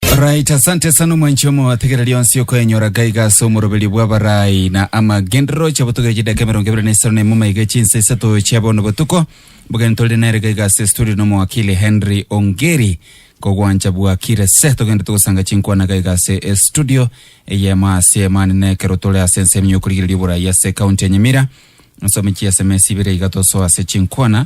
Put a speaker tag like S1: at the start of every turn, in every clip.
S1: Right, asante sana omwanchi omo ategera rionsi okoenyora gaiga ase omoroberio bw'abarai na amagenderero oche botogera chidaka emerongo ebere na isano na emo maiga chinsa isato chia bono botuko mbogani tore nere gaiga ase studio na omowakili Henry Ongeri kogwancha bwakire se togende togosanga chinkwana gaiga ase e studio eyemo ase emani na ekero tore ase ense eminyo okorigereria oborai ase ekaunti ya Nyamira nsome chiaseme esibere iga tosoa ase chinkwana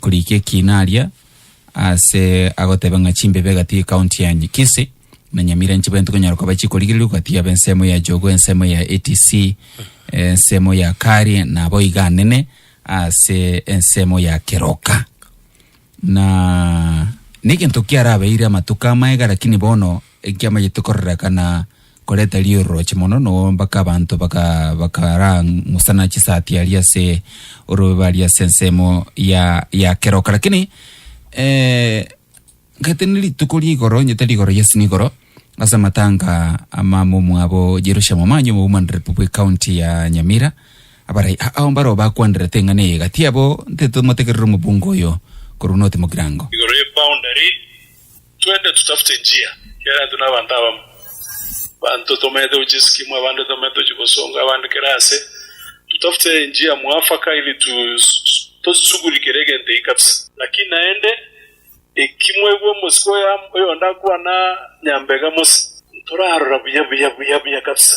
S1: korikia ekina aria ase agoteba ng'a chimbebe egati ekaunti ya Nyikisi na Nyamira nchibe ntikonyara koba chikorigereria ogatiga aba ensemo ya Jogo ensemo ya ATC ensemo ya Kari nabo iga anene ase ensemo ya Keroka na negento kiarabeire amatuko amaega lakini bono ekiamanyete kororeka na Koreta ri'ororoche mono, no mpaka abanto baka, bakara ng'usana chisati aria ase orobebe aria ase ensemo ya, ya keroka. Lakini, eh, ngete ni rituko rigoro, nyete rigoro, yes, nigoro, ase amatanga ama momwabo Jerusha Momanyi omoumanire pu bwe county ya Nyamira, abarai a- ao mbaro bakwanderete eng'ana eye, gati abo nteto motegerere omobungo oyo korwa North Mogirango. igoro ye boundary
S2: Twende tutafute enchia kiagera tuna abanto abamo. Abanto tomeete gochisikimwa, abande tomeete gochigosonga, abande kera aase. Tutafute enchia mwafaka ili tosisugurikere egento eki kabisa. Lakini naende, eki mwaigwa omosike oyo oyonde akwana nyambega mose, ntorarora buya buya, buya buya kabisa.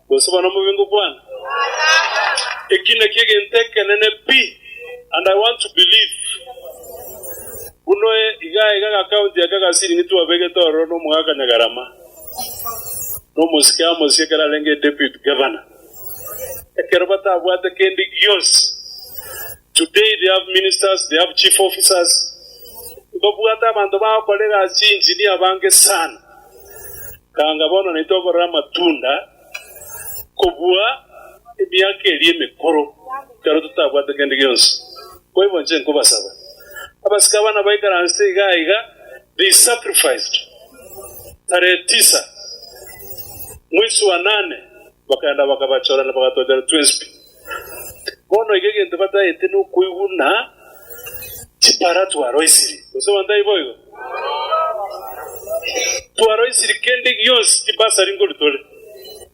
S2: Gose bono mobe ngokwana, Eki nakio egento ekenene pi, and I want to believe. Buna iga iga gakaunti aka gasiringi twabegete ororo na omogaka Nyagarama, na omosike amo osie ekero arenge deputy governor, ekero batabwate kende gionsi. Today they have ministers, they have chief officers, mbabwate abanto bagokora egasi engineer bange sana. Kanga bono naintwe tokorora amatunda kobua emiaka eria emekoro, ekero totabwate kende gionsi. Boigo inche nkobasaba, abasike aba nabaikaranse iga aiga, they sacrificed, tarehe tisa, mwezi wa nane. Bakaenda bakabachora na bagatwachora twensi. Bono iga egento bataete nokoiguna chipara twaroisiri. Gose abanto taiboigo? Twaroisiri kende gionsi chibasari nkori tore.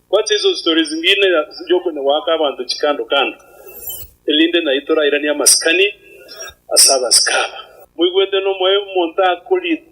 S2: Gwacha iso story zingine chiokonyegwaka abanto chikando kando erinde naye torairanie amasikani ase abasike aba. Moigwete nomoyo omonto akorire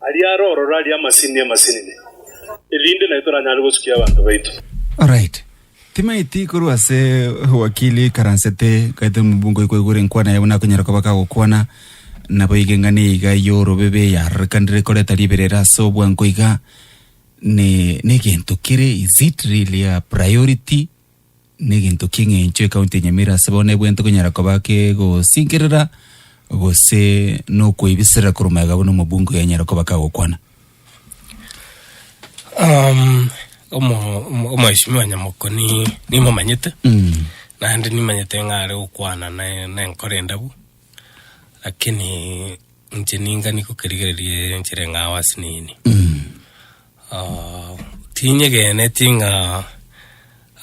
S2: Aria are ororo aria amasinini amasinini, erinde naye toranyare gosukia abanto baito. Alright.
S1: Timaeti korwa ase owakili karansete gaete omobungo oyo kwaigure enkwana yabo nakonyara koba kagokwana nabo iga eng'ana iga yorobebe yarorekanire koreta riberera ase obwango iga ne negento kere is it really a priority Negento ki'eng'encho ecounty ya Nyamira ase bono ebwente konyara koba kegosinkerera gose nokoebiserera korwa mayega buna omobunge oyo anyare koba kagokwana. Um,
S3: omo- omo- omweshimiwa nyamokoni nimomanyete Mm. naende nimanyete ng'a are gokwana ne- nenkoro endabu lakini Inche ningani gokerigereria ere enchera eng'ao ase nini. Ah, tinyegeneti ng'a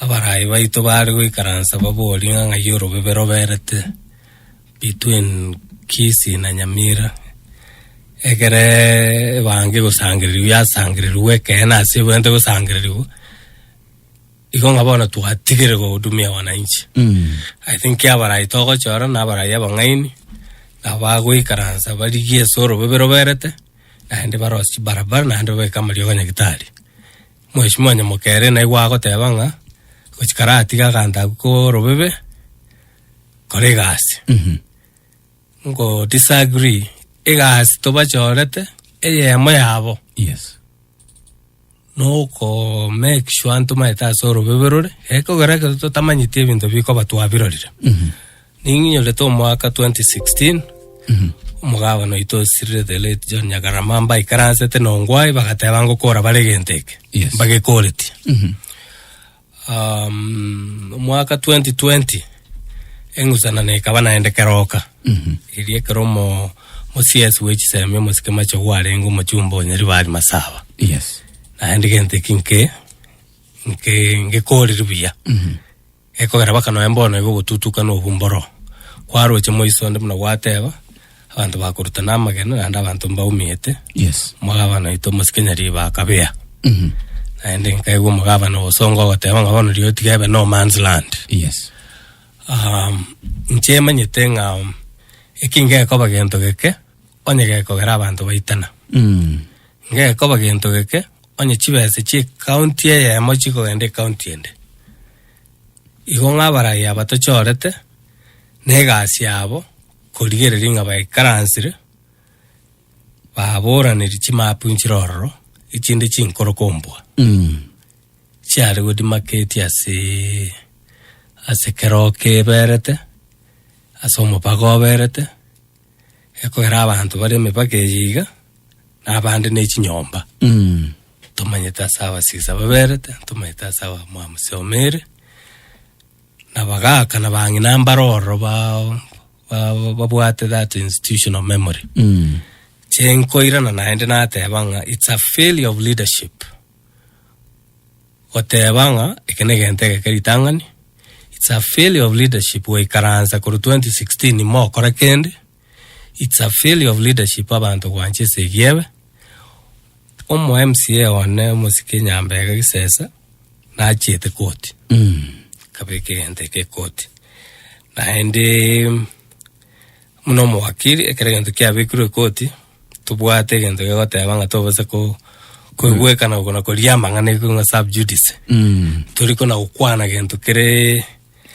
S3: abarai baito bare goikaransa baborie ng'a ng'ai orobibe roberete between Kisii na Nyamira. Ekere ebange gosangereria yasangererigwe ekeene ase ebwenerete gosangererigwa. Igo ng'a bono twatigire gohudumia wananchi. I think abarai togochora na abarai abang'aini nabo bagoikaransa barigie ase orobobe roberete naende barose chibarabara naende babeke amariogo a Nyagetari. Mweshimiwa Nyamokere naigwe agoteba ng'a gochia kare atige agantabu korobebe kore egasi. Ngo disagree egasi tobachorete eyemo yabo Yes. noko make sure ntomaete ase orobebe rore ekogera ekero totamanyeti ebinto bikoba twabirorire ninginyorete omwaka 2016 omogabana oito osirire the late John Nyagarama mbaikaransete na ongwae bagateba ngokora bare egento eke Yes. mbagekoretie um, mwaka 2020 eng'usanano ekaba naende keroka eria ekero omo mosiasi wechisemi omosike mache gwarenge omochumba onyeri bari masaba yes
S1: naende gento eki
S3: nke nke ngekoriri buya ekogera baka noe mbono igo ogotutuka na obumboro kwaroche moiso onde buna gwateba abanto bakoruta namagena naende abanto mbaumete Yes. omogabana
S1: oito
S3: omosikenyari bakabea Mhm. naende nkaigwa omogabana ogosonga ogoteba ng'a bono riria otiga ebe no man's land Yes.
S1: um, inche
S3: emanyete ng'a um, eki ngekoba gento geke onye gekogera abanto baitana Mm. ngekoba gento geke onye chibese chie county eyemo chikogenda ecounty ende igo ng'a abarai aba tochorete na egasi yabo Korigereria ng'a baikaransire baboraneri chimapunchire ororo, echinde chinkoro kombua chiare godimaketi ase ase kero keberete, ase omobaga oberete, ekogera abanto bare emebage eye iga, na abande ne chinyomba. Ntomanyete ase abasisa baberete, ntomanyete ase abamwamuse omere. Na bagaakana bang'ina mbare ororo ba- ba- babwate that institutional memory chinkoirana naende nateba ng'a it's a failure of leadership goteba ng'a eke negento egeke ritang'ani it's a failure of leadership goikaransa korwa 2016 mokora kende It's a failure of leadership abanto gwancha ase egiebe. Omo MCA one omosike Nyambega Gisesa nachete koti. Mm. Kabeka egento eke koti. Naende muna omowakiri ekero egento kiabekirwe koti tobwate egento gegoteba ng'a tobasa ko koigwekana okona koria amang'ana ekong'a sub judice. Mm. Tori kona gokwana gento kere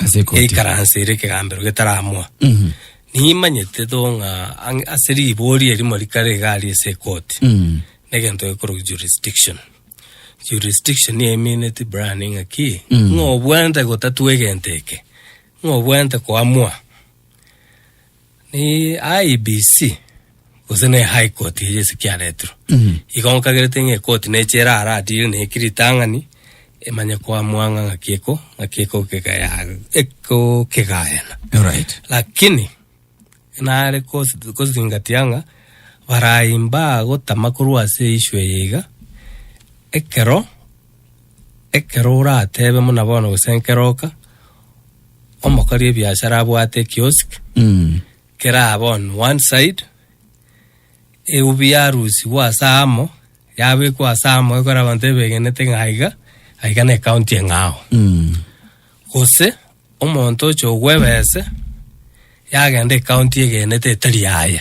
S3: Ase ekoti. yaikaranse ere ekegambero getaramoa Mhm. nimanyete tho ng'a ang- ase ribori erimo rikare iga aria ase ekoti Mm. negento gekorwa jurisdiction jurisdiction niyo emineti brian ng'a ki Mm. ng'a obwenerete gotatua egento eke ng'a obwenerete koamua Ni IEBC gose ne High Court eria ase kiaretirwe. Igo nkagerete ng'a ekoti neche erara adire na eki ritang'ani emanye koamua ng'a ng'aki eko ng'aki ekokegaya- ekokegayana. Alright. Lakini nare kos- kosingatia ng'a barai mbagotama korwa ase issue eye iga ekero ekero oratebe buna bono gose nkero oka. Omokori ebiashara abwate kiosk keraabe on one side, eubi yarusigwa ase amo, yabekwa ase amo ekore abanto ebegenete ng'a aiga, aiga ne county eng'ao. Gose omonto oche ogwebese yagenda ecounty egenete etari yaye.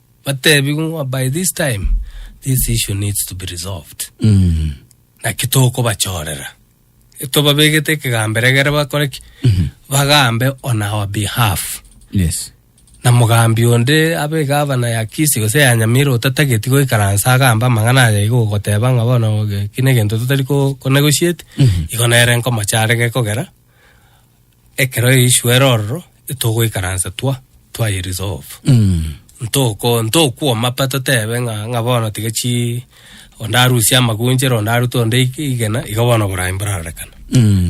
S3: Batebi ng'a by this time this issue needs to be resolved. Mm. Naki tokobachorera. Tobabegete ekegambero egere bakore ki? Bagambe on our behalf. Yes.
S1: na mogambi
S3: onde abe gavana ya kisi gose ya nyamira otatageti goikaransa agamba amang'ana aya igo ogoteba ng'a bono ge- kine egento totari ko- konegotiate igo nere nkomochare gekogera Ekero Yesu ere ororo, etogoikaransa twa, twaye resolve. Ntoko, ntokwoma pa totebe ng'a, ng'a bono tiga chi, onde arusie amagunchero, onde arute onde ig- igena, iga bono oboraai mborarorekana.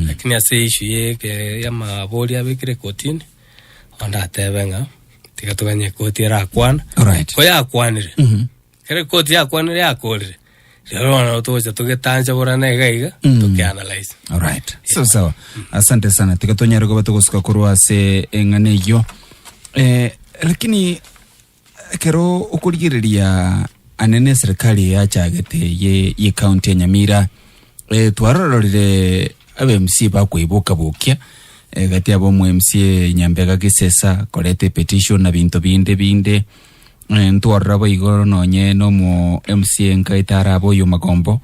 S3: Lakini ase issue ya eke- ya amabori abekire ekotini, onde atebe ng'a, tiga toganye ekoti erakwane. Alright. Ko yakwanire, Ekero koti yakwanire yakorire, rero bono nabo togocha togetanchaborana iga iga, tokeanalyse. Alright. Sawa
S1: sawa. Asante sana. Tiga tonyare kuba tugosuka korwa ase eng'ana eyio. Eh, lakini ekero okorigereria anene eserikali yachagete ye ye county ya Nyamira eh, twarororire aba MC bakweboka bokia eh, gati abo omu MC Nyambega Gisesa korete petition na binto binde binde Ntwarora boigo nonye nomo MC enka etarabe oyo magombo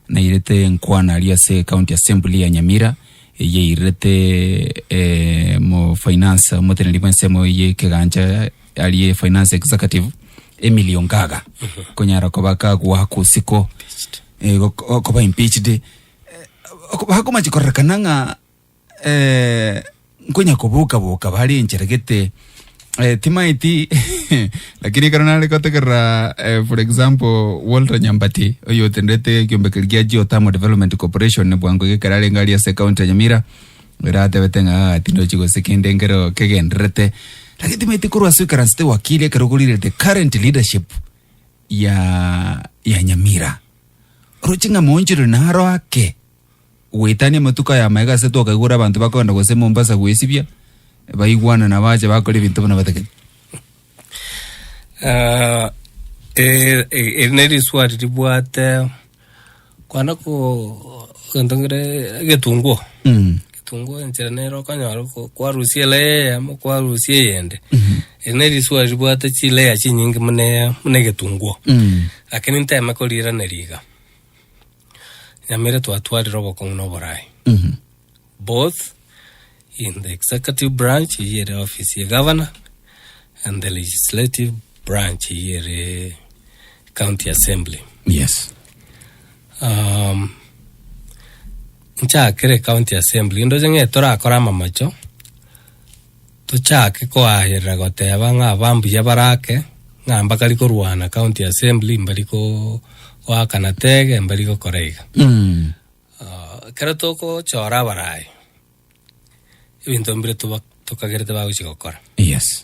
S1: nairete enkwana aria ase county assembly ya Nyamira eyairete eh, mo finance omoteneri bw'ensemo y'ekegancha ari e finance executive Emilio Ngaga konyara koba kagwa kosiko eh, gok- koba impeached eh, bakomachi korekana ng'a eh, nkonya koboka boka bare enchera gete eh, timaeti lakini ekero nare gotegerera eh, for example Walter Nyambati oyo otendete ekiombeko gia Geothermal Development Corporation bwango gekero arenge aria ase county ya Nyamira ere atebete ng'a "Ah, tindochi gose kende nkero kegenderete lakini timaeti korwa ase ekaransete wakili ekero ogorire the current leadership ya ya Nyamira oroche ng'a monchero naro ake Goetania amatuko aya amaya gase twakaigure abanto bakogenda gose Mombasa goesibia, baigwana na bache bakora ebinto buna batagete. Ah, eh, eh,
S3: eri ne riswali ribwate kwana ko egento ngere egetunguo Mm. egetunguo enchera nero okonyora ko- kwarusia layer eyemo kwarusia eyende eri ne riswali ribwate chilayer chinyinge muna muna egetunguo Mm. lakini nteme koriraneria iga Nyamere twatwarire obokong'u na oboraai both in the executive branch eyio ere ofisi ya Governor and the legislative branch eyio ere county assembly. Yes.
S1: Um,
S3: nchakere county assembly ndoche ng'e torakore amamacho tochake koagerera goteba ng'a abambuya bare ake, ng'a mbakari korwana county assembly, mbari ko- goakana tege, mbari gokora iga. Ah, ekero togochora abarai, ebinto mbire toba- tokagerete bagochi gokora. Yes.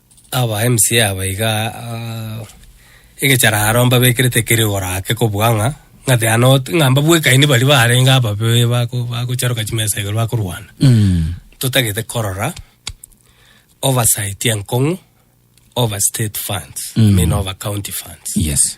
S3: Aba MCA aba iga egechararo mbabekerete kere igoro ake kobua ng'a ng'ate ya not ng'a mbabwekaini baria barenge ababe bako bagocharoka chimesa igoro bakorwana totagete korora oversight enkong'u over state funds I mean over county funds Yes.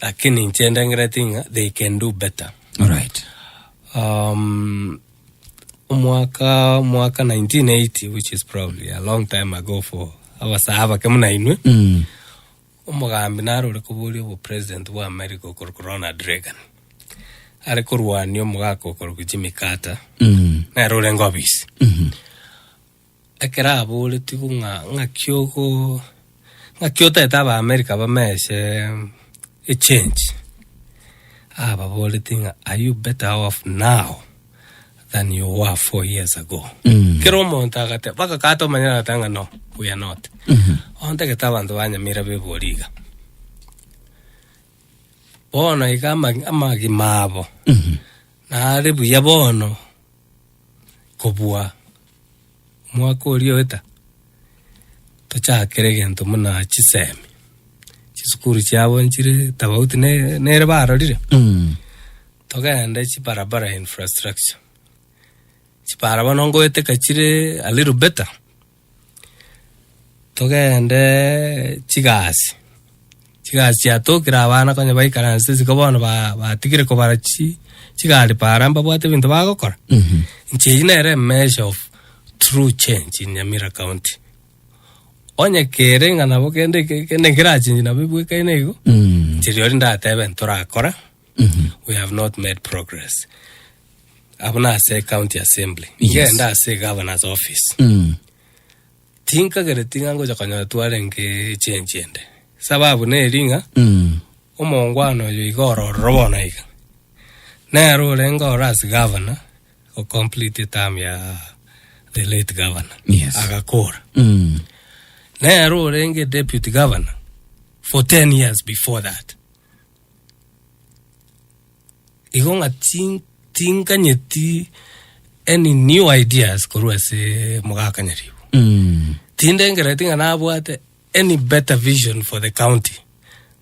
S3: Lakini inche ndangereti ng'a they can do better. Alright.
S1: Um,
S3: omwaka omwaka 1980 which is probably a long time ago for abasaha bake muna inwe Mm. omogambi nare ore koboria obopresident bwa america okorokwa ronald reagan are korwania omogaka okorokwa jimmy carter Mm. nere orenge obisi Mhm. Ekero aboretigwe ng'a ng'aki ogo ng'aki otaete abaamerika bamese echange, ababoretie ng'a are you better off now than you were four years ago. Kera omonto agateba mpaka kata omanyete agateba ng'a no we are not. Ontagete abanto banyamira bebori iga. Bono iga ama- amagima abo nare buya bono kobua Omwaka oria oeta tochakere gento muna chisemi chisukuru chiabo nchire tofauti nere barorire mm. togende chibarabara infrastructure chipara bono ngoete kachire a little better togende chigasi Chigasiatokera abana konya baikaranse isiko bono ba- batigire kobara chi chigari para mbabwate ebinto bagokora. Inche eyio nere emeasure of true change in Nyamira county. Onye kere ng'a nabo kende ke- kende nkerachenji nabo ebwekaine igo, inche rirorio ndatebe ntorakore, we have not made progress. Abwo nase county assembly. Yes. Ngende ase egovernor's office. Tinkagereti ng'a ngocha konyora twarenge echensi ende. Sababu neri ng'a Mm. omongwana oyo iga orororo bono iga. Nere orenge ore as gavana o complete term ya the late gavana. Yes. Agakora.
S1: Mm.
S3: Nere orenge deputy governor for 10 years before that. Igo ng'a tin- tinkanyeti any new ideas korwa ase mogaka Nyaribo. Mm. Tindengereti ng'a nabwate any better vision for the county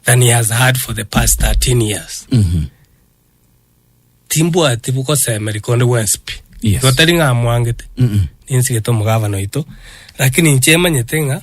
S3: than he has had for the past 13 years. Mhm. Timbwati bogosemeri konde gwensi pi. Yes. Igo tari ng'a
S1: amwangete,
S3: Mm-mm. ninsigete omogabana oito, lakini inche emanyete ng'a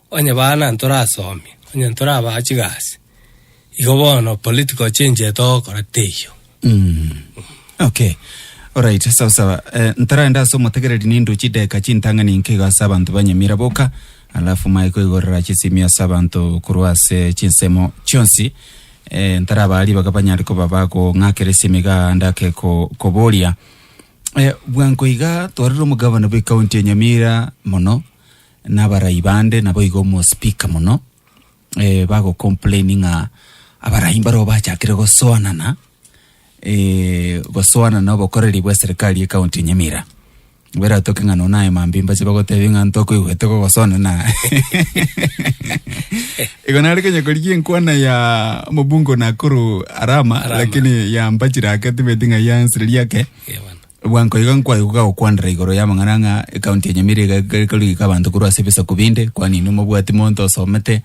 S3: Onye bana ntorasomie, onye ntoraba chigasi, igo bono political change eye togokora teiyo.
S1: Okay. Alright, sawa sawa. Eh, ntaraende ase omotegereri nindu chideka chintang'ani inke igo ase abanto ba Nyamira boka, alafu maye koigorera chisimio ase abanto korwa ase chinsemo chionsi. Eh, ntaraba aria baga banyare koba bagong'akera esimi iga ndake ko, koboria. Eh, bwango iga twarire omogabana bw'ekaunti ya Nyamira mono, na abarai bande naboigo omo speaker mono eh, bago complain ng'a abarai mbaroo bachakire gosoanana eh, gosoanana obokoreri bwa serikali ye county ya Nyamira beratoke ng'a nona aye mambi mbache bagotebi ng'a ntokoigwete gogosoanana igo nare kenya korigia enkwana ya omobungo Nakuru Arama, Arama. lakini yambachire ake tibeti ng'a yansire riake Ewana. Bwa nkoiga nkwai gokakokwanera igoro y'amang'ana ng'a ekaunti ya Nyamira iga eke- ekarugika abanto korwa ase ebisaku binde, kwanini omobwati monto osomete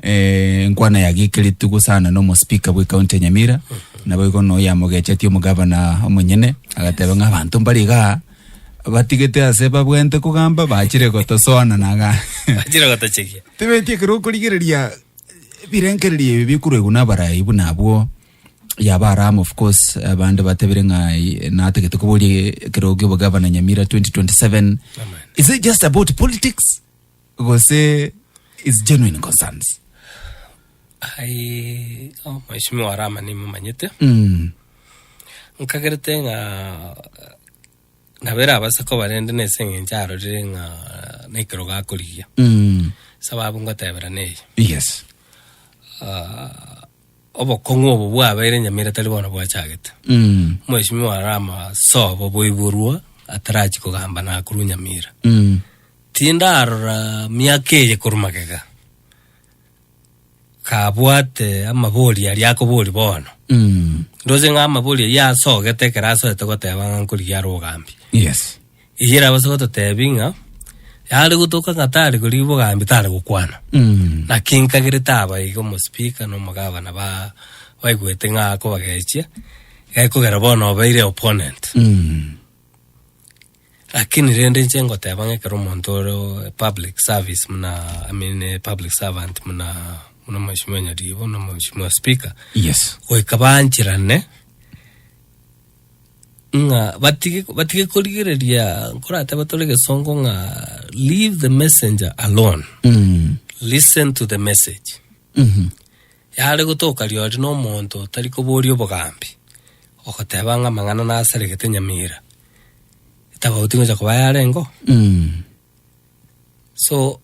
S1: eh, enkwana ya gikiriti gosana na omospika bwe ekaunti ya Nyamira, naboigo na oyamogechetie omogavana omonyene, agateba ng'a abanto mbare igaa batigete ase babwenerete kogamba bachire gotosoana na ng'a Achire gotochegia.
S3: tebeti ekero
S1: okorigereria ebirengererio ebi bikoruegwa na abarai buna abwo Yaba Aram of course abande batebire ng'ai natagete koboria ekerogi obogavana Nyamira 2027 is it just about politics gose is genuine concerns ai
S3: oh, mheshimiwa arama nimumanyete mm. nkagerete ng'a nabere abase koba rende nese eng'encho arorire ng'a nekerogo akorigia mm. sababu ngoteberana eye yes uh, Obokong'u obo bwabeire Nyamira tari bono bwachagete. Omweshimiwa are amasobo boiborwa atarachie kogamba nakorwa Nyamira. Tindarora miaka eye korwa magega kabwate amabori aria akobori bono. Ndoche ng'a amabori ayio asogete ekero asogete goteba ng'a nkorigia are ogambi. Yes.
S1: Eyio erabase
S3: gototebi ng'a yare gotoka ng'a tare korigia obogambi tare gokwana. Mm. Naki nkagerete aba iga omospika na omogavana ba baigwete ng'a akobagechia gekogera bono obeire opponent. Mm. Lakini rende inche ngoteba ng'a ekero omonto ore o- public service muna I mean eh, public servant muna muna mweshimiwa Nyaribo na mweshimiwa speaker Yes. goika
S1: bancherane
S3: ng'a batige batige korigereria nkorateba tore gesongo ng'a leave the messenger alone Mm. listen to the message Mhm. yare gotoka riori na omonto otari koboria obogambi ogoteba ng'a amang'ana nasaregete nyamira etabauti gocha koba yarenge oo Mm. So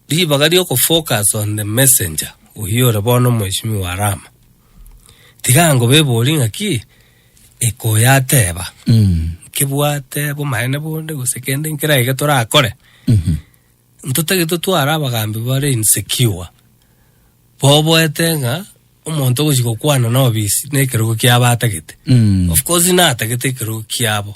S3: ribaga ri'ogofocus on the messenger oyio ore bono omweshimiwa Arama, tiga angobebori ng'aki ekoyateba nkebwate bomaene bonde gose kende nkere aye getorakore ntotagete totware abagambi bare insecure boboete ng'a omonto ogochi gokwana na obisi na ekerogo kiabo atagete of course natagete ekerogo kiabo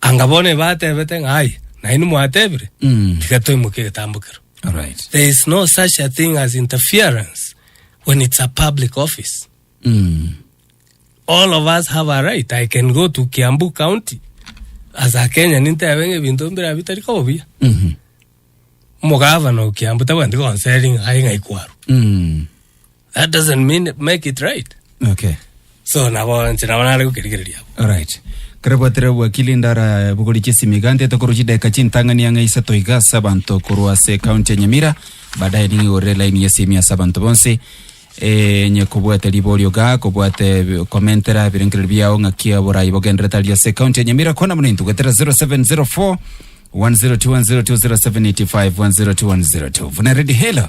S3: Anga bono ebatebete ng'a aye, nainwe mwatebire, Mm. tiga toimoke egetambo kero. All right. There is
S1: no such a
S3: thing as interference when it's a public office. Mm. All of us have a right. I can go to Kiambu County as a Kenyan nintebe ng'a ebinto mbira bitari koba buya. Mhm. Omogavana o Kiambu tabwenereti konseri ng'a aye ng'a ikwaru. Mm. That doesn't mean make it right. okay
S1: So nabo
S3: nche nabo nare gokerigereria abo. alright
S1: kare bwatire wakili ndara bogori chisimi gante tokoru chideka chintang'ani ang'e isato igasa abanto korwa ase county ya nyamira baadaye ning'igorere line yesimi ase abanto bonsi eh, nye kobwate riborio ga kobwate bi- komentera ebirengereri biao ng'aki oborai bogenderete aria ase county ya nyamira kona buna intugwetera 0704 102102785 10210 vuna redi helo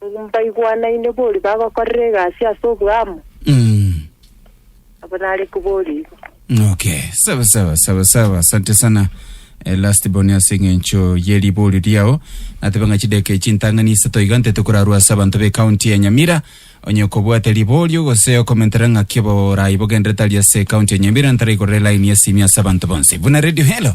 S4: Mbaigwanaine boria bagokorera egasi ase oboamo, Mm. abo nare koborigwe. Okay,
S1: sawa sawa sawa sawa, asante sana Eh, last born ase eng'encho ye riborio riao natebe ng'a chideka echi ntang'ani isato iga ntete korarwa ase abanto be county ya nyamira onye kobwate riborio gose okomentera ng'aki oborai bogenderete aria ase county ya nyamira ntaraikorera line ya simi ase abanto bonsi buna radio hello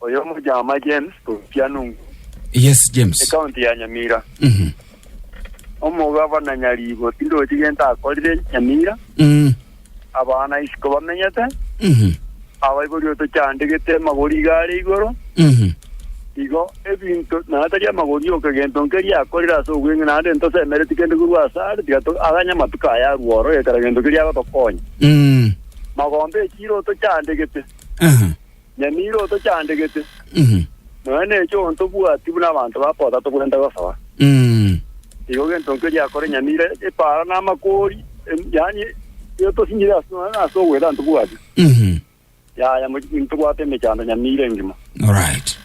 S5: Oyo omojama James Tokia Nungu, Yes,
S1: James. ekaunti ya Nyamira.
S5: Mhm. Omogavana Nyaribo tindochi gento akorire Nyamira, Mm. abana isiko bamenyete, Mhm. abaibori otochandegete amagori iga are igoro, Mhm. igo ebinto naye tari amagori yoka gento nkeria akorire ase obweng'ina naende ntosemereti kende korwa ase are tiga to- aganye amatuko aya arue oro gekera gento keria agotokonya. Mm. Magombe echiro otochandegete. Aha. Nyamira otochandegete, Mhm. nonya neche ontobwati buna abanto ba Kotha tokorenta gosoa. Mm. Igo gento nkio giakore Nyamira epaara na amakori, em- yaani etosinyire ase nonya ase ogweta ntobwati. Mhm. Yaya mochiki ntobwate emechando Nyamira engima. Alright.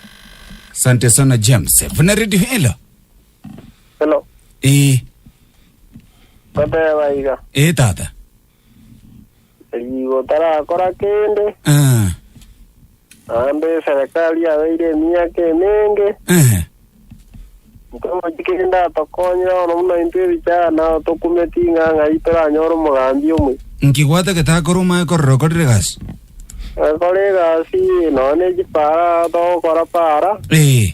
S1: Asante sana James. Vuna Radio Hello. Hello. Eh,
S5: Toteba iga. eh tata.
S1: Rigo
S5: tarakora kende, Eh, naende eserekari yabeire emiaka emenge, eh, ntogochi kende atokonyire bono buna intwe ebichara nao tokumeti ing'ang'a ii
S1: toranyore
S5: omogambi
S1: omwe.
S5: nkigwate
S1: getakora
S5: omanye
S1: korora
S5: okorire egasi. Agakora egasi nonya ne chipara togokora para, Eh,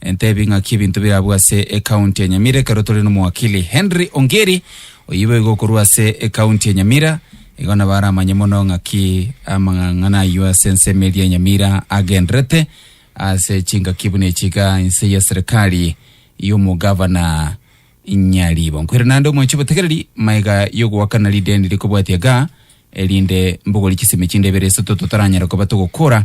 S1: Entebi ng'aki ebinto bire abwo ase ekaunti ya Nyamira ekero tore nomowakili Henry Ongeri oyio boigo okorwa ase ekaunti ya Nyamira igo nabo aramanye mono ng'aki amang'ang'ana ayio ase ensemo eria Nyamira agenderete ase chingaki buna echi iga inse ya serikali y'omogavana Nyaribo nkwire naende omwanchi obotegereri maega y'ogoakana rideni rikobwatia ga erinde mbogori chisemi chinde ibere isoto totaranyare koba togokora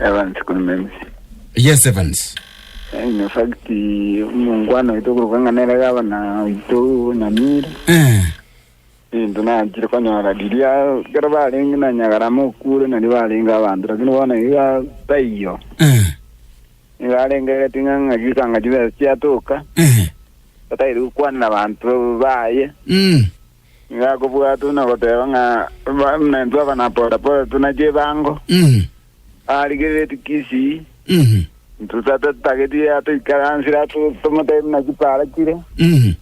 S5: Evans kuri Memisi. Yes Evans.
S1: Eh, in fact
S5: omongwana oito okoruka ng'a nere gavana oito Nyamira Eh. into nachire konyora riria kero barenge na Nyagarama okure nario barenge abanto lakini bono iga taiyo Eh. iga arengegeti ng'a ng'aki ching'aki chibesa chiatoka Eh. atairi gokwanera abanto baye Mm. Nigo akobua tu na goteba ng'a baminto aba na pore pore tu na chibango. Mhm. Arigereti kisii. Mhm. Ntusa tatageti atoikaransire atu tomotebi na chipara chire. Mhm.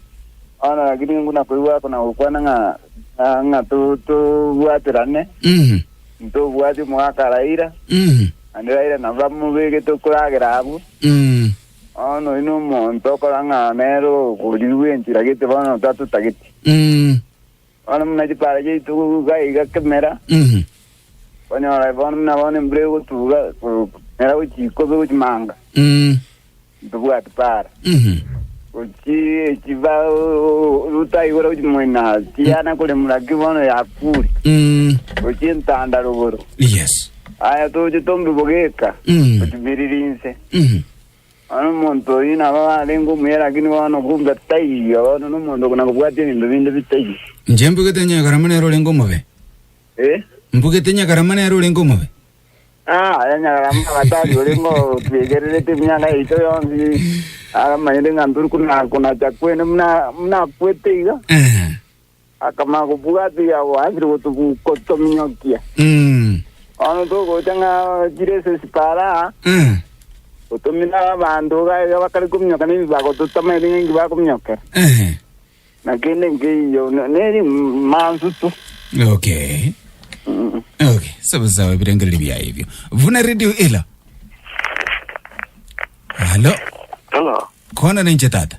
S5: Ona lakini nguna koigwa ako na gokwana ng'a ng'a- ng'a tu- tobwaterane. Mhm. Ntobwati omogaka Raila. Mhm. Ande Raila nabo bamobegete okoragera abwo. Mhm. Ao nonya nomonto okorang'ana nere okorirwa bw'enchera gete bono tatotageti. Mm. Bono buna chipara chiaito gotuga iga kemera, Mhm. konyora bono buna bono embura egotuga komera gochia ikobe gochia manga, Mm. ntobwati para. Mhm. Gochia echiba rutaigora gochia moina tiyana koremura ki bono yakure. Mm. Gochia entanda rogoro. Yes.
S1: Aya toche
S5: tombe bogeka. Mm. Gochia biririnse. Bono omonto oyio nabo arenge omuya, lakini bono kumbe taiyo, bono nomonto buna kobwati ebinto binde bitaiyo. Inche mbugete nyagarama
S1: nere orenge omobe. Eh? Mbugete nyagarama nere orenge omobe. Ah, aya
S5: nyagarama agatari orenge otwegererete emiaka yaito yonsi. Aramanyete ng'a tori kuna kunacha kwene muna muna kwete iga. Eh. Akamanya kobwata yabo asire gotobu- gotominyokia. Mm. Bono togocha ng'a chire ase sipara, Eh. gotomina abanto iga iga bakare kominyoka na ebibago totamaete ng'a inki bakominyokera. Eh. Na kende nkeiyo ne- neri mansu tu.
S1: Okay. Mm. Okay. Sawa sawa ebirengereri bia ebio. Vuna radio ela. Halo. Hello. Kona ninche tata.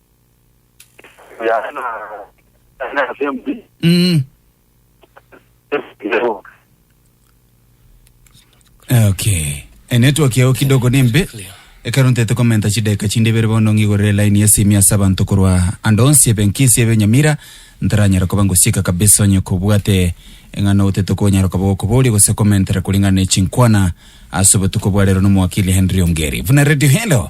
S5: Mm.
S1: okay Eh, network yao kidogo nimbe ekero ntete komenta chideka chinde ibere bono ng'igorere line ya simi ase abanto korwa ande onsi ebe nkisi ebe nyamira ntaranyara koba ngosieka kabisa onye kobwate eng'ana otete konyara koba gokoboria gose komentera kuring'ana ne chinkwana ase obotuko bwa rero nomwakili henry ongeri buna radio hello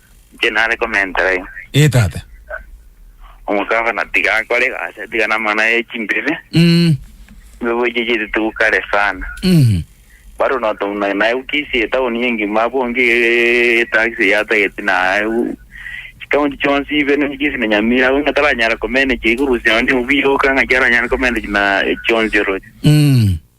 S5: Inche nare komentera iga. Ee, tata. Omokabana tiga akore egasi, tiga namang'ana aye chimbibe. Mm. Chimbibe echi chiri too kare sana. Mhm. Bado noto na- naye ukisia etauni engima abwo onge eh, etaxi yatageti naye u- chikaunti chionsi ibe ne- chionsi na Nyamira abwo ng'a taranyara komanage ikorusia onde obuya oka ng'aki aranyare komanage na echionsi oroche. Mm.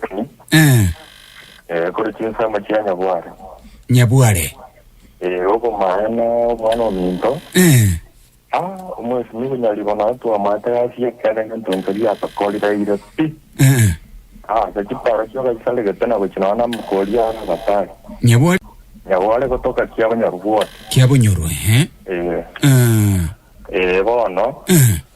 S5: Ri, Eh, eh, kore chinsemo chia nyabware. nyabware.
S1: Eh,
S5: obomaene obwane ominto. Eh, Ah, omwesimi bonyaribo naye twamate asie ekere ngento nkeria yatokorire ire pi. eh, Ah, ase chipara chio gaisarigete na gochi nonya namokori are abatari. nyabware Nyabware gotoka kia bonyoru bwoti. kia bonyoru, ehe.
S1: Eh, Eh,
S5: eh, bono, eh,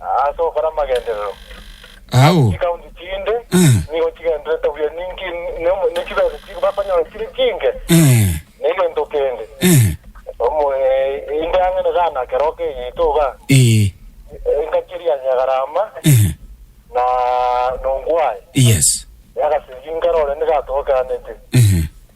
S6: Ase ogokora amagenderero Ao.
S1: chikaunti chinde
S6: Eh. nigo chigenderete buya ninki ne- ne chibesa chi bakonyora chire chinke Eh. na egento kende Eh. omo eh, inde ang'e na gana keroka egeito iga Eh. engacheria ya Nyagarama Eh. na Nongwae Yes.
S1: yagasiriria
S6: nkarore nigatogekanete Eh.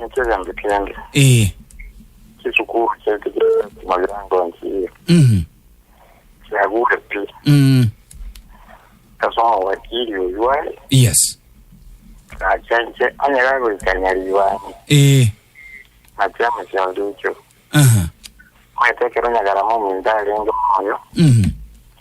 S6: Niki egento kende? Ee. Chisukuru chiaito chi'ebisaku mabiango ensi eye Mhm. chiagure pi. Mm. Ase omowakiri oyio aye Yes.
S1: nacha
S6: inche onye gagoikania ribani Ee. na chiama chionde echio. Aha. Omanyete ekero nyagarama ominto arenge moyo Mhm.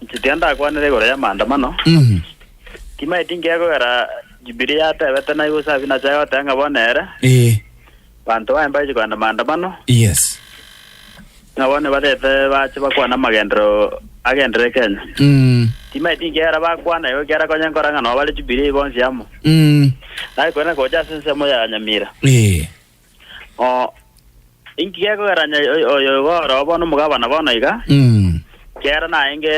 S5: Inche tiga ndakwanere igoro y'amaandamano, timaeti nkegwera Jubilee yatebete naye gose Sabina achaye goteba ng'a bono ere, Ee. banto baye mbache kogenda maandamano, Yes. ng'a bono nibarete bache bakwane amagendero agendere Kenya. Mm. Timaeti nkegera bakwana igo ekero akonya nkora ng'a nabo bare Jubilee bonsi amo. Mm. Naye korende gocha ase ensemo ya Nyamira, Ee. Oo, inki gekogerania oy- oyo iga oroo bono omogabana bono iga? Mm. Kera naenge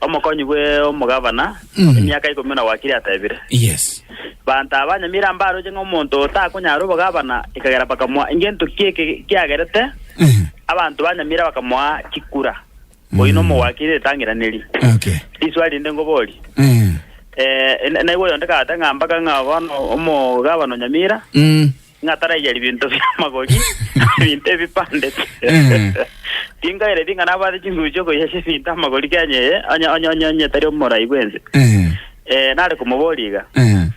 S5: omokonyi bwe omogabana Mm. emiaka ikomi na gwakire atebire. Yes.
S1: Banto abanyamira
S5: mbaroche ng'a omonto otakonyara obogabana ekagera bakamoa engento ki eke kiagerete Eh. abanto banyamira bakamoa chikura. Oino omogwakire ritang'inaneri. Okay. Riswali
S1: rinde
S5: ngoborie. Eh. Eh, na- naigwa oyonde kagate ng'a mpaka ng'a bono omogabano Nyamira Mm. ng'a taraiyeria binto bia magori binto ebipande Eh. tinkaire ting'a nabwate chinguru chiokoyesha ebinto amagori Kenya eye onye onye onye onye tari omorai bwense Eh. eh, nare komoboria iga Eh.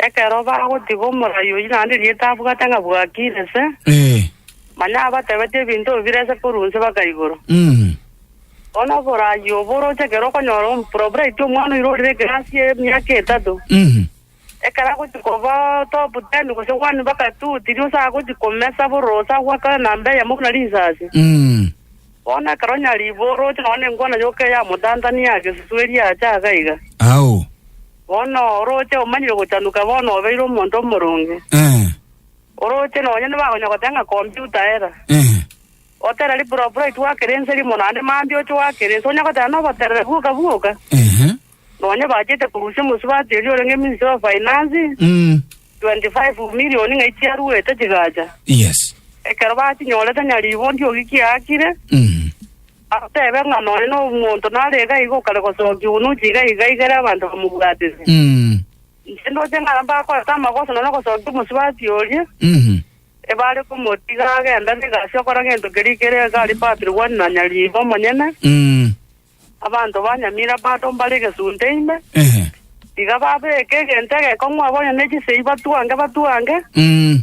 S4: Ekero bagotiga omorai oyio naende rieta abwate ng'a bwakire inse, Eh. manya abatebetie ebinto bibire inse korwa inse baka igoro. Mm. Bono oborai obo oroche ekero okonyora ompura oboreti omwana oira orire ekerasi ya emiaka etato, Mhm. ekero agochi koba top ten gose one baka two, tirio ase agochi komesa borose agwakane namba eyemo buna risasi. Mm. Bono ekero onye ribu oroche nonye nengwana yoka eyamotantanire aa gesusu eria acha iga iga. Ao.
S1: Bono
S5: orooche omanyire ogochanuka bono obeire omonto omoronge. Eh. Orooche nonye nibakonya goteba ng'a kompyuta era. Eh. Otera ripuropuro aitwe gwakera ense rimo naende mambia oche gwakera ense onya gotera noboterere bwoka bwoka. Ehe. Nonye bachete korusia omosubati oria orenge Ministry of Finance Mm. 25 million ng'ai chiaruete chigacha. Yes.
S1: Ekero batinyorete
S5: nyariibo ndiogi kiaakire. Mm. Ateebe ng'a nonya nomonto nare iga iga okare gosokia obonuchi iga iga igere abanto bamobwatete. Mm. Inche ndoche ng'a mbakorete amagoso nonya gosokia omosubati oria, Mhm. ebare komotiga agende abe egasi okora gento keria ekere iga aria Patiri One na Nyariiba omonyene, Mm. abanto ba Nyamira bado mbare egesunte ime, Ehe. iga babeke egento egekong'u abwo onye ne chisegi batwange batwange, Mm.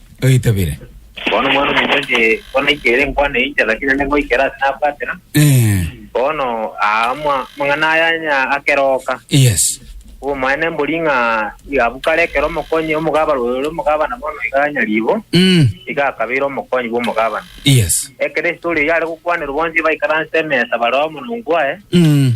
S6: Oitabire. Bono Omwana-o-monto inche bono naikeire nkwane inche, lakini
S1: naende
S6: ngoikera ase nabwatera. Eh, Bono aa ama- amang'ana aya onye akeroka, yes.
S1: obomwene mbori
S6: ng'a iga bukare ekero omokonyi omogabane ore omogabana bono iga nyaribo, Mm, iga akabeire omokonyi bw'omogabana. yes. Ekero
S1: estori eyio are
S6: gokwanerwa bonsi baikaranse emesa bare amo nongwaye, Mm.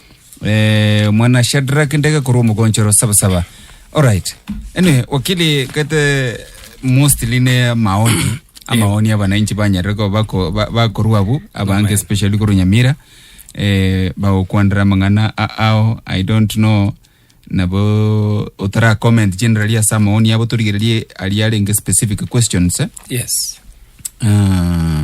S1: Eh, mwana Shadrack ndege korwa omogonchero saba saba. Alright. Anyway, wakili kete mostly ne maoni amaoni abananchi banyarire ko bako ba- bakorwa abu abange especially korwa Nyamira eh bagokwandira amang'ana a- ao I don't know nabo otara comment generally asa amaoni abo torigererie ari arenge specific questions eh? yes
S3: Ah,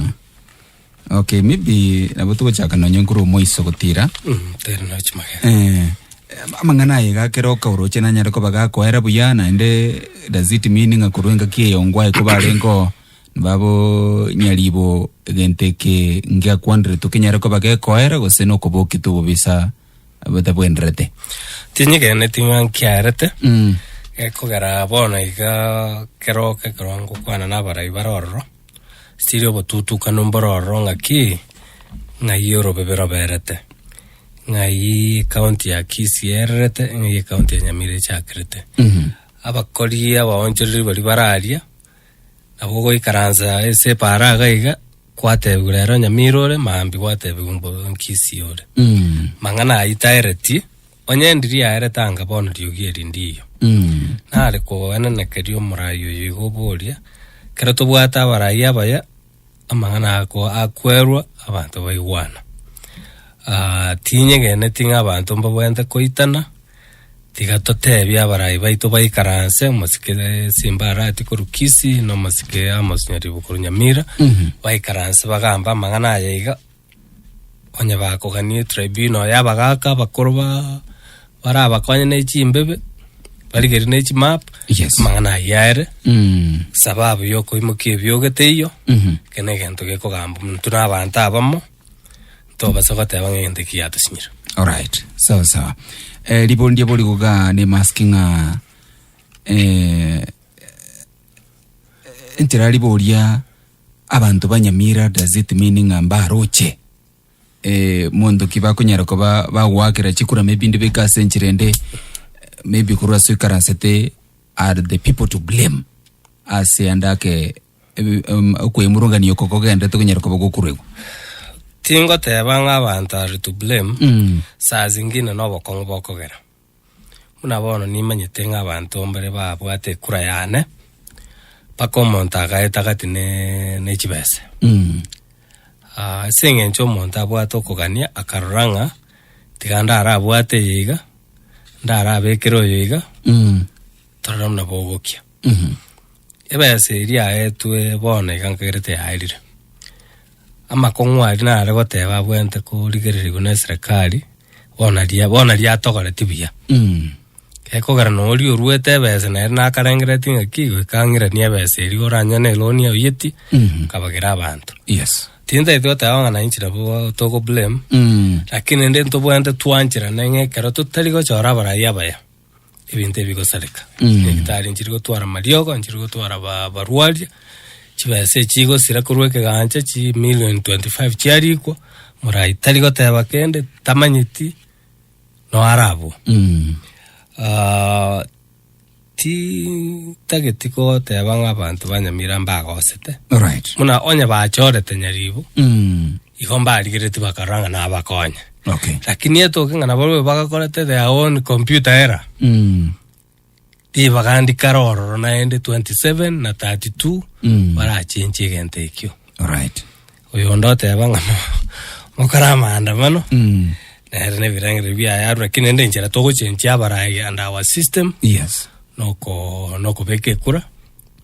S1: Okay, maybe nabo togochaka nonye nkuru omoiso gotira. Mm, tera na chimage.
S3: Eh, amang'ana
S1: aye gakera okauroche nanyare koba gakoera buya naende does it mean ng'a korwa engaki eyo ngwae koba are ngo babo nyaribo egento eke ngiakwanire tokenyare koba gekoera gose nokoboki tobobisa botabwenderete. Tinyigeneti
S3: ng'a nkiarete. Mm. Gekogera bono iga kero oke kero ngokwana na abarai bare ororo. Siri obotutukanu mbororo ng'aki ng'ai orobebe roberete, ng'ai ekaunti ya Kisii ererete, ng'ai ekaunti ya Nyamira echakerete. Abakori abaonchoreri baria bararia, nabo ogoikaransa ase epaara iga iga, gwatebiwa rero Nyamira ore, maambia gwatebiwa mbo Kisii ore. Mang'ana ayio taeretie, Onye ndiri aere tanga bono riogi eri ndiiyo, nare kogoenenekeria omorai oyo igo oboria, ekero tobwate abarai abaya, amang'ana ako akwerwa abanto baigwana. Ah, tinyegeneti ng'a abanto mbabwenerete koitana, tiga totebie abarai baito baikaranse, omosike simba arati korwa Kisii, na omosike Amos Nyaribo korwa Nyamira, baikaranse bagambe amang'ana aya iga. onye bakogania etribunal y'abagaaka abakoro ba barabakonye ne chimbebe barigerie ne chimap Yes. amang'ana ayio aere Mm. sababu yokoimokia ebiogo teiyo Mhm. eke na egento gekogamba buna tuna abanto abamo ntobasa goteba ng'a egento eki yatosinyire Alright. Sawa
S1: sawa. Eh, libondi abo ligoga ne mask ng'a eh, entera liboria Abanto banyamira does it mean ng'a mbaroche eh, monto ki bakonyara koba bagoakera chikura maybe ndi beka ase enchera ende eh, maybe korwa ase ikaransete are the people to blame ase ande ake em- em, okwemurungania oko kogendete konyara koba gokuregwa
S3: tingoteba ng'a abanto are to blame Mm. saa zingine na obokong'u bokogera Buna bono nimanyete ng'a abanto mbare babwate ekura y'ane, mpaka omonto agaetagati ne nechibese. Ase eng'encho omonto abwate okogania akarora ng'a tiga ndarabwate eye iga, ndarabekere oyo iga, torore buna bogokia. Ebese eria yaetwe bono iga nkagerete yaerire. Amakong'u aria nare goteba abwenerete korigererigwa neserekari, bono ria- bono riatogoretie buya. Gekogera na oria oruete ebesa nere nakarengeretie ng'aki goika ang'iranie ebesa eria oranyore na eloni aoyetie, akabagera abanto. Yes. Tintaeti
S1: goteba ng'a
S3: nainche nabo togo blame, Mm. lakini rende ntobwenerete twancherane ng'a ekero totari gochora abarai abaya, ebinto ebigosareka Mm. ebitari nchiri gotwara mariogo nchiri gotwara ba- barwaria chibesa echi chigosira korwa ekegancha chi million 25 chiarikwa morai tari goteba kende tamanyeti noarabwo Mm. Ah, ti tageti goteba ng'a abanto ba nyamira mbagosete Alright. buna onye
S1: bachorete
S3: nyaribo Mm. Igo mbarigeretie bakarora ng'a nabakonye. Okay. Lakini
S1: etoke ng'a
S3: nabarobwo bagakorete their own computer error. Mm. Ribaga ndikare ororo naende 27 na 32 Mm. barachenchie egento ekio. Alright.
S1: Oyo onde
S3: oteba ng'a mokore amaandamano Mm. nere nebirengererio biaye arure lakini ende enchera togochenchia abarayi and our system Yes. noko nokobeka ekura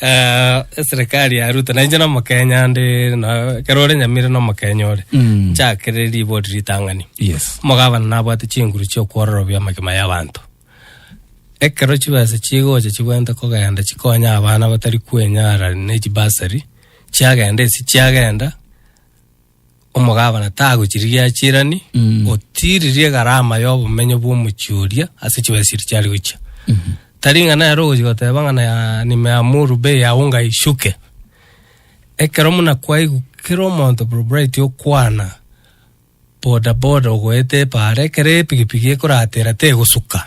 S1: Eh, eserekari
S3: ya ruto nainche na omokenya ndi na- ekero ore nyamire na omokenya ore Mm. nchakere ribori ritang'ani yes omogabana
S1: nabwate
S3: chinguru chiokwororobia amagima y'abanto ekero chibesa chigocha chibwente kogenda chikonye abana batari kwenyara ne chibasari chiagenda esi chiagenda Omogabana tagochirigia achirani, Mm. otiririe egarama y'obomenyo bw'omochie oria ase chibesiri chiare gochia. Tari ng'a nere ogochia goteba ng'a na- nimeamuru bei ya unga ishuke. Ekero muna kwaigwa kera omonto proprietor okwana bodaboda ogoeta epaara, ekero epikipiki ekoratera tegosuka.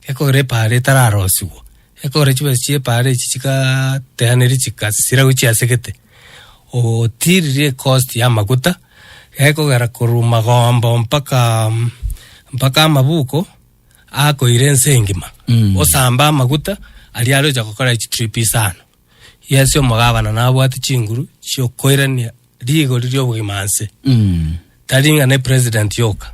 S3: ekogera epaara etararosigwa, ekogera chibesa chia epaara echi chigaa teaneria chikasira gochia ase gete, ootiiriri ekosti ya amaguta, gekogera korwa magombo mpakaaa mpaka amabuko akoira ense engima, osambe amaguta aria arocha gokora echi trip isano. Yes omogabana nabwate chinguru chia okoirania rigori ria obogima nse, tari ng'a ne president yoka.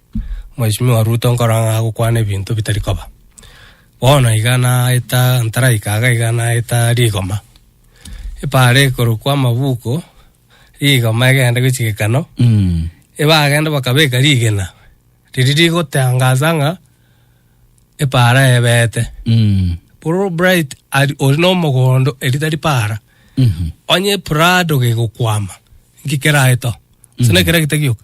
S3: Mheshimiwa Ruto nkoro ng'a agokwana ebinto bitari koba. Bono iga naeta ntaraika iga iga naeta rigoma. Epaara ekorokwa amabuko, rigoma egende gochia gekano, ebagende bakabeka rigena riria rigotangaza ng'a epaara ebeete. Fulbright ari ori na omogondo eri tari paara. Onye eprado gegokwama, nki keraete oo? Gose nekere gete gioka?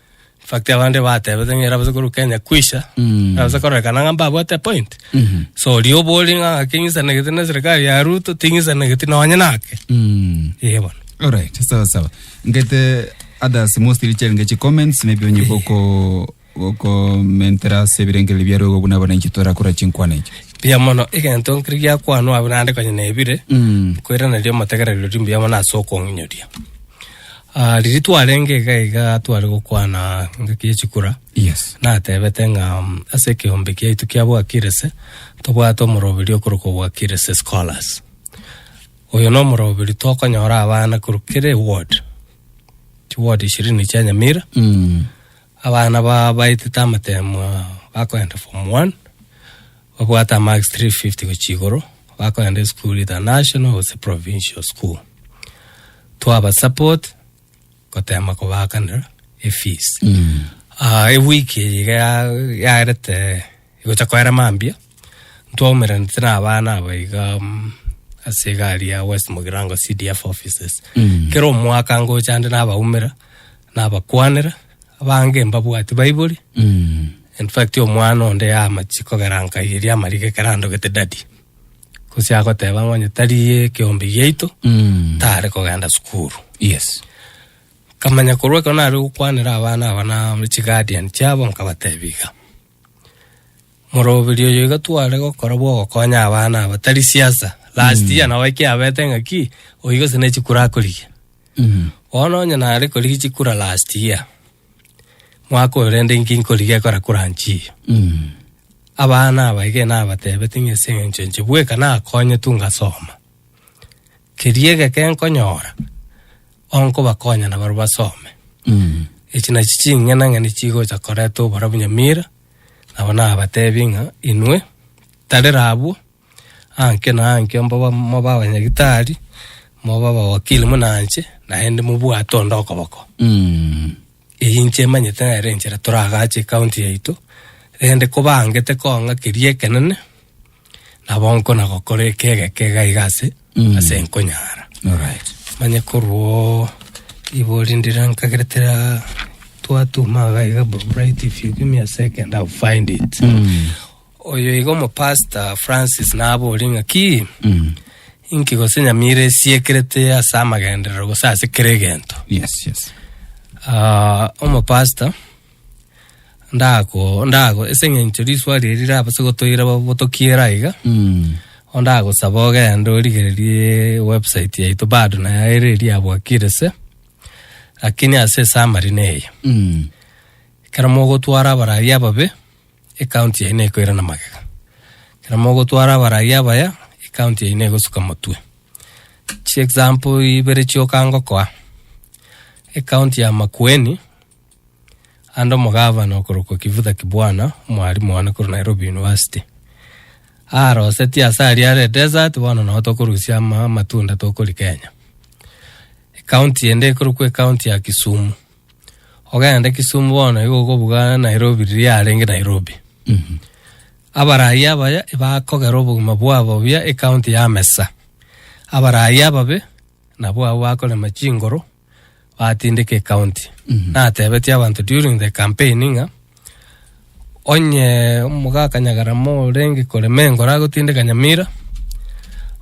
S3: In fact abande batebete ng'a erabase korwa Kenya kwisha Mm. erabase kororekana ng'a mbabwate point Mhm. so oria obori ng'a ng'ake ng'isanegete na serikali ya Ruto ting'isanegeti nonye nake Mm. ee bono Alright, sawa
S1: sawa. Ngete others mostly chenge chi comments maybe onye boko boko mentera se birengereri bya rogo buna bana chitora kura chinkwana ichi. mbuya mono
S3: egento nkiri giakwanwa abwo naende konya nebire Mm. kwera nario omotegererio ri mbuya mono ase okong'inyoria Ah, riria twarenge iga iga tware gokwana engaki ye chikura Yes. natebete
S1: ng'a
S3: mm, ase ekeombe kiaito kia bwakirese tobwate omoroberi okorokwa bwakirese scholars oyo na omoroberi tokonyora abana korwa kera eward chiward ishirini chia nyamira Mm. Abana bao baetete amatemo ao bakoenda form one, babwate amarks 350 gochia igoro, bakoenda esukuru either national gose provincial school. Twabasupport goteema kobaakanera efees. Ah, ewiki eye iga ya- yarete Egocha koera mambia, ntwaumeranete na abana aba iga mm, ase egari ya West Mugirango CDF offices. Kera omwaka ngocha ande nabaumera, nabakwanera, abange mbabwati baibori. Mm. In fact omwana onde yamachi kogera nkaiyeria amariga ekero andogete daddy. Gose agoteba ng'a onye tari ekeombe giaito, Mm. tare kogenda sukuru. Yes.
S1: Nkamanya
S3: korwa ekero nare gokwanera abana aba na chiguardian chiabo nkabatebia iga. Morobiri oyo iga tware gokora bwa ogokonya abana aba tari siasa last year nabo ekiabete ng'aki oyi gose ne chikura akorigia bono onye nare korigia chikura last year mwaka oyo rende inki nkorigia ekora kuranchi iyo abana aba iga nabatebete ng'a ase eng'encho enche bweka nakonyetwe ngasoma Keria egeke nkonyora onkobakonya nabarobwo basome. Echi nachi ching'ina ng'ina chigocha koreta obora bunyamira nabo nabatebi ng'a inwe tarera abwo anke na anke mboba moba abanyagitari moba abawakili muna inche naende mobwate onde okoboko eyio inche emanyete nere enchera toragache ekaunti yaito rende kobangete kong'a keria ekenene Nabo nkona gokora ekegeka iga iga ase ase nkonyara. Alright.
S1: Manye korwo
S3: ibori ndira nkageretera twatuma iga iga bro right if you give me a second I'll find it. Oyo iga omopastor Francis nabori ng'a ki Mm. inki gose nyamira esiekerete ase amagenderero gose ase kera egento. Yes, yes.
S1: Ah,
S3: omopastor Ndako ndako ase eng'encho riswali eri rirabase gotoira botokiera aiga bono ndagosaba ogende origererie website yaito bado naye ere eria yabwakire se lakini ase esummary neye ekero mogotwara abarai ababe ekaunti yaino ekoirana magega ekero mogotwara abarai abaya ekaunti yaino egosuka motwe chiexample ibere chioka ngokoa ekaunti ya makueni Ande omogavana okorokwa Kivutha Kibwana, omwarimu one korwa Nairobi University, arosetie ase aria are desert bono nao tokorusia ama amatunda tokori Kenya. Ekaunti ende ekorokwa ekaunti ya Kisumu. Ogenda Kisumu bono igo okobuga Nairobi riria arenge Nairobi. Abarai abaya bakogera obogima bwabo buya ekaunti ya Mesa. Abarai ababe nabwo abwo bakorema chingoro atindika ecounty natebetie abanto during the campaign ng'a onye omogaka nyagarama orenge kore mengo oragotindeka nyamira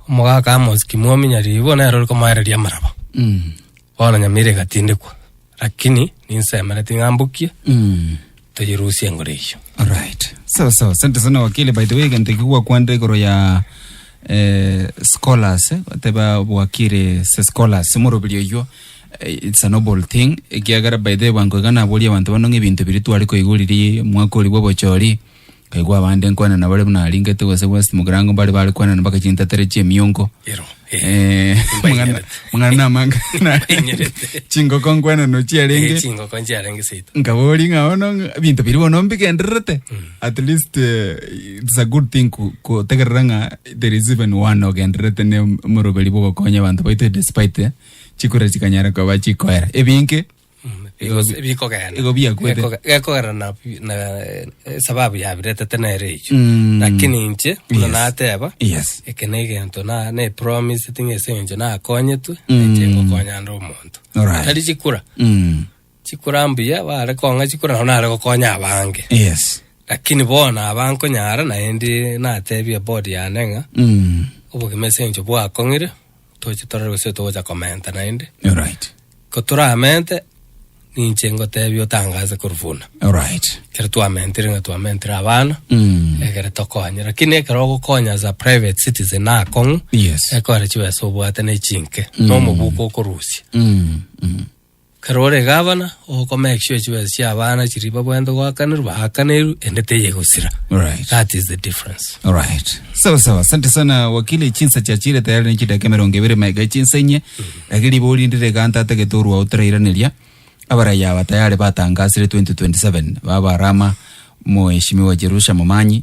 S3: omogaka amos kimwami nyaribo nere ore komoereria amaraba Mm. bono nyamira egatindekwa lakini ninsemereti ng'a mbukie Mm. Toyirusie engoro eyio. Alright.
S1: Sawa sawa. Asante sana wakili by the way egento eki gwakwandire igoro ya eh, scholars eh, bateba bwakire se scholars omorobiri oywo eh, it's a noble thing ekiagera by the way bwango iga naboria abanto bano ng'a ebinto biri tware koigwa riria mwaka ori bwa obochori Nkaigwa abande nkwanana bare buna aringete gose West Mugirango mbare bare kwanana mpaka chintatere chi'emiongo. Ero. Eh, mang'ana mang'ana na amanga Mbainyerete. chingoko nkwanano Eh, chiarenge chingoko nchiarenge
S3: seito. nkabori ng'a bono
S1: ng'a- binto biri bono mbigendererete at least eh, it's a good thing ku- kutegerera ng'a there is even one ogendererete ne omoroberi bogokonya abanto baito despite eh, chikura chikanyara koba chikoera ebinge Igo bi-
S3: bikogenda igo biakwete. Gekoge-
S1: gekogera na
S3: na eh, sababu yabiretete nere echo Mm. lakini inche buna Yes. nateba Yes. eke na
S1: egento na
S3: ne promise ting'e ase encho nakonyetwe Mm. inche ngokonya ande omonto Alright. tari chikura Mm. chikura mbuya bare kong'a chikura nabo nare gokonya abange Yes. lakini
S1: bona
S3: abankonyara naende natebie bodi yane ng'a Mm. obogima ase encho bwakong'ire toche torore gose togocha komenta naende. Alright. Ko
S1: toramente,
S3: ninche ngotebia otangaze korwa buna. Alright. Ekero
S1: twamentire ng'a
S3: twamentire abana, Mm. egere tokonye. Lakini ekero ogokonya as a private citizen akong'u, Yes. ekore chibesa obwate na echinke, na omobuko okorusia. Mm. Mm. Ekero ore gavana, okomake sure chibesa chi'abana chiria babwenerete goakanerwa baakanerwe ende teyia egosira. Alright. That is the
S1: difference.
S3: Alright. Sawa
S1: sawa. Asante sana wakili chinsa chiachire tayari ne chidaka emerongo ebere maega echinsa enye. Lakini riba orindire ganta atagete orwa otarairaneria. Abaraya aba tayari batangasire 2027 baba rama mheshimiwa Jerusha Momanyi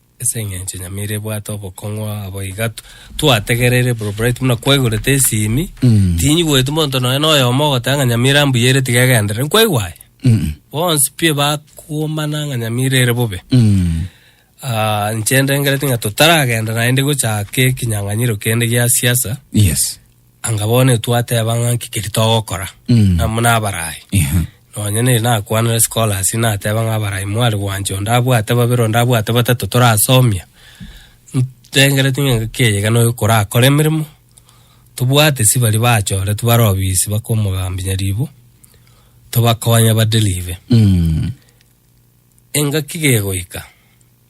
S3: Ase engencho nyamira ebwate obokong'u abo iga twategereire bro bright buna kwaigorete esimi mm. tinyi gwetu monto noe noe omo gotanga nyamira mbuya ere tiga egendere nkwaigwa aye mm. bonsi pie bakuomana nga nyamira ere bobe mm. uh, ah, nchende ngerete nga tutaragenda naende gochaka ekinyang'anyiro kende gia siasa yes
S1: Anga bono
S3: twateba ng'a nki keri togokora mm. amo nabarayi yeah. nonye neri nakwanire scholars nateba ng'a abarayi mwari gwancha onde abwate babere onde abwate batato torasomia ntengereti ng'a engaki eye iga noyo korakora emeremo tobwate si bari bachore tibare obisi bakomogambinya ribu tobakonye baderive mm. engaki gegoika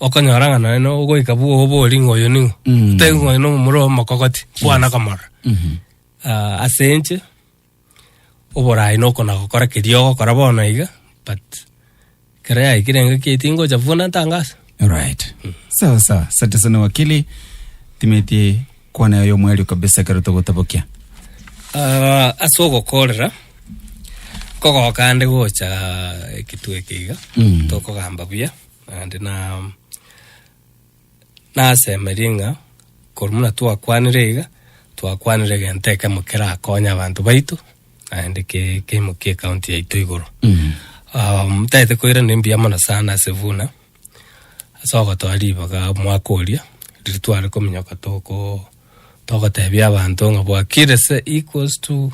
S3: okonyora ng'a nonye na ogoika bw'obori ng'a oyo ning'o, Mm. otebi ng'a oyo na omomura omokogoti, kwana komorora. Mhm. Ah, ase enche, oboraai noko nagokora keria ogokora bono iga, but ekero yaikire enga ki tingocha buna tangaso. Alright.
S1: Sawa sawa. Asante sana wakili. Timeti Kwana yaye omwerio kabisa ekero togotabokia. Ah,
S3: ase ogokorera nkogoka ande gocha ekitu eke iga Mm. tokogamba buya naende na nasemerie ng'a korwa buna twakwanire iga twakwanire egento ekemo kerakonye abanto baito naende ke- keimokie ekaunti yaito igoro Mm. Ah, tagete koiraneria mbuya mono sana ase buna Ase ogotoa ribaga omwaka oria, riria tware kominyoka togoo togotebia abanto ng'a Bwakirese equals to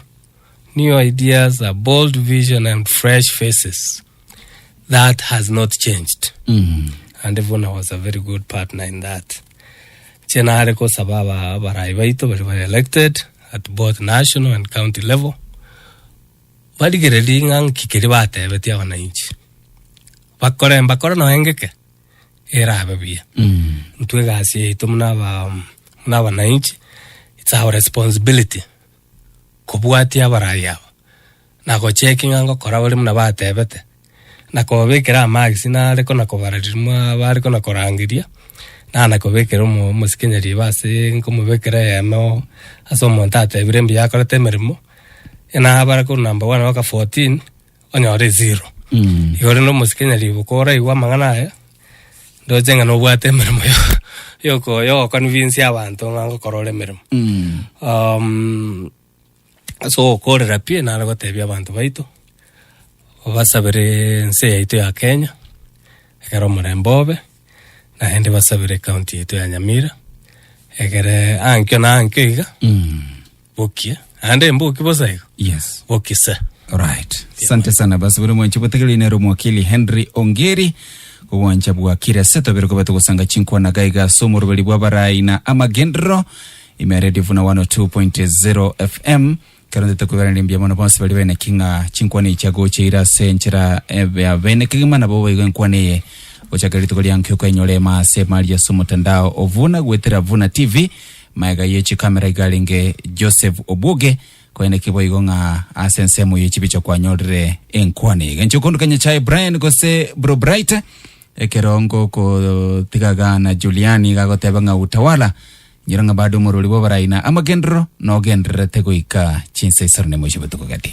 S3: new ideas, a bold vision and fresh faces. That has not changed. And Vuna was a very good partner in that. Inche nare gosaba aba- abarai baito baria ba elected at both national and county level barigererie ng'a nki keria batebetie abananchi, bakore mbakore nonya ngeke erabe buya. Intwe egasi yaito buna aba buna abananchi it's our responsibility kobwatia abarai aba na gochecki ng'a ngokora bari buna batebete. na kobabekera amagisi nare kona kobara ririmo bare kona korangeria, na na kobekera omo omosikenyia riba ase nkomobekera eyemo oo ase omonto atebire mbuya akorete emeremo, enabare korwa number one mpaka fourteen, onyore zero. Igo rende omosikenya riba koraigwa amang'ana aya, ndoche ng'a nobwate emeremo yo yoko yogoconvinsia abanto ng'a ngokora ore emeremo. Ase ogokoorera pi, nare goteebia abanto baito basabere ense yaito ya Kenya ekero omorembe obe, naende basabere county yaito ya Nyamira egere ankio na ankio iga bokie, naende mboki bosa igo Yes. boki se. Alright.
S1: Asante sana basi buri mwanche botegereri nero mwakili Henry Ongeri obwancha bwakire ase twabere koba togosanga chinkwana gaiga ase omoroberi bwa barai na amagenderero Ime eredio buna 102.0 FM kero ndete kweberania mbuya mono bonsi bari beneki ng'a chinkwana eyi chiagocha ira ase enchera ebe- ya bene kegima nabo baigo enkwana eye gochakera rituko ria nkiuka enyore ema ase emari ase omotandao ovuna gwetera vuna tv maega ye chikamera iga arenge Joseph Obwoge koeneki boigo ng'a ase ensemo ye chibicha kwanyorire enkwana eye gencho okonduka Nyachae Brian gose Bro Bright ekerongo kotiga gana Juliani gagoteba ng'a utawala Nyora ng'a bade omorwori bw'abarai na amagenderero nogendererete goika chinsa isano na emo chia botuko gati.